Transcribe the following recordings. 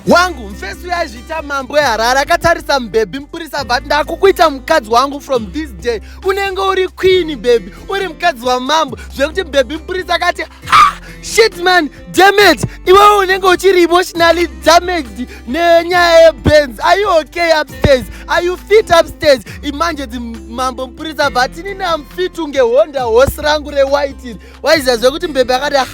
wangu mfesi uyo aizviita mambo eharare akatarisa mubhebhi mupurisa but ndakukuita mukadzi wangu from this day unenge uri queeni bhebhi uri mukadzi wamambo zvekuti mubhebhi mupurisa akati ha shit man damage iwewe unenge uchiri emotionally damaged nenyaya yebenz are you okay upstairs are you fit upstairs imanje dzimambo mupurisa but inini amfit unge honda hosi rangu rewhite waiziva zve kuti mbebe akati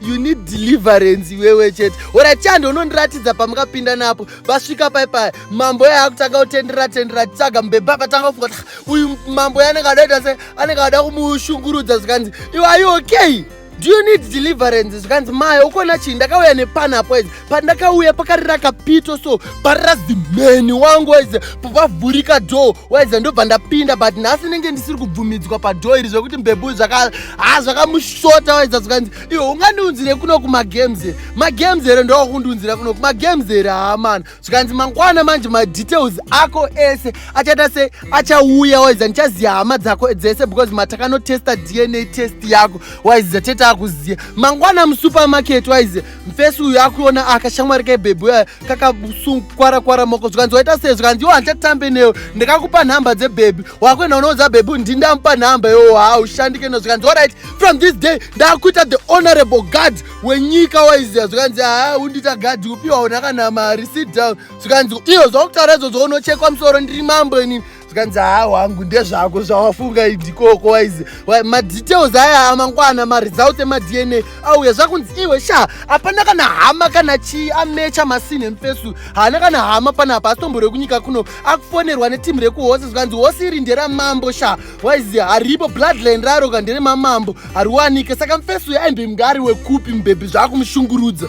you need deliverance iwewe chete ora chando unondiratidza pamukapinda napo vasvika pai paya mambo yaye akutanga kutendera tendera tsaga mbebe akatanga kufunga kuti uyu mambo yaye anenge adaita se anenge ada kumushungurudza zvikanzi iwe are you okay do you need deliverance zvikanzi maya ukona chii ndakauya nepanapo pandakauya pakari rakapito so parazimheni wangu waiza pavavhurika dho waiza ndobva ndapinda but nhasi nenge ndisiri kubvumidzwa padho iri zvekuti mbebuu zvaka ha zvakamushota waiza zvikanzi iwo ungandiunzire kuno kumagames here magames here ndowakundiunzira kuno kumagames here haamana zvikanzi mangwana manje madetails ako ese achaita se achauya waiza ndichaziva hama dzako dzese because matakanotesta dna test yako waiza tete akuziva mangwana musupermarket waiza mfesi uyu akuona akashamwari kebhebhi uya kakasunkwara kwara moko zvikanzi waita sei zvikanzi iwo handichatambe newe ndakakupa nhamba dzebhebhi wakuenda unoudza bhebhi kuti ndindamupa nhamba yoo haa ushandike no zvikanzi orit from this day ndakuita the honorable guard wenyika waiziva zvikanzi haa undiita gadhi upiwa una kana mari sit down zvikanzi iyo zvakutaura izvozvo unochekwa musoro ndiri mambo inini zvikanzi haa wangu ndezvako zvawafunga idikoko waizi madetails aya amangwana maresults emadna auya zvakunzi iwe sha hapana kana hama kana chii amecha masini emfesu haana kana hama pana apa asitomborwe kunyika kuno akufonerwa netimu rekuhose zvikanzi hose iri nderamambo sha waizi haripo bloodline raro ka nderemamambo hariwanike saka mfesu yaimbe mngari wekupi mubhebhi zvaakumushungurudza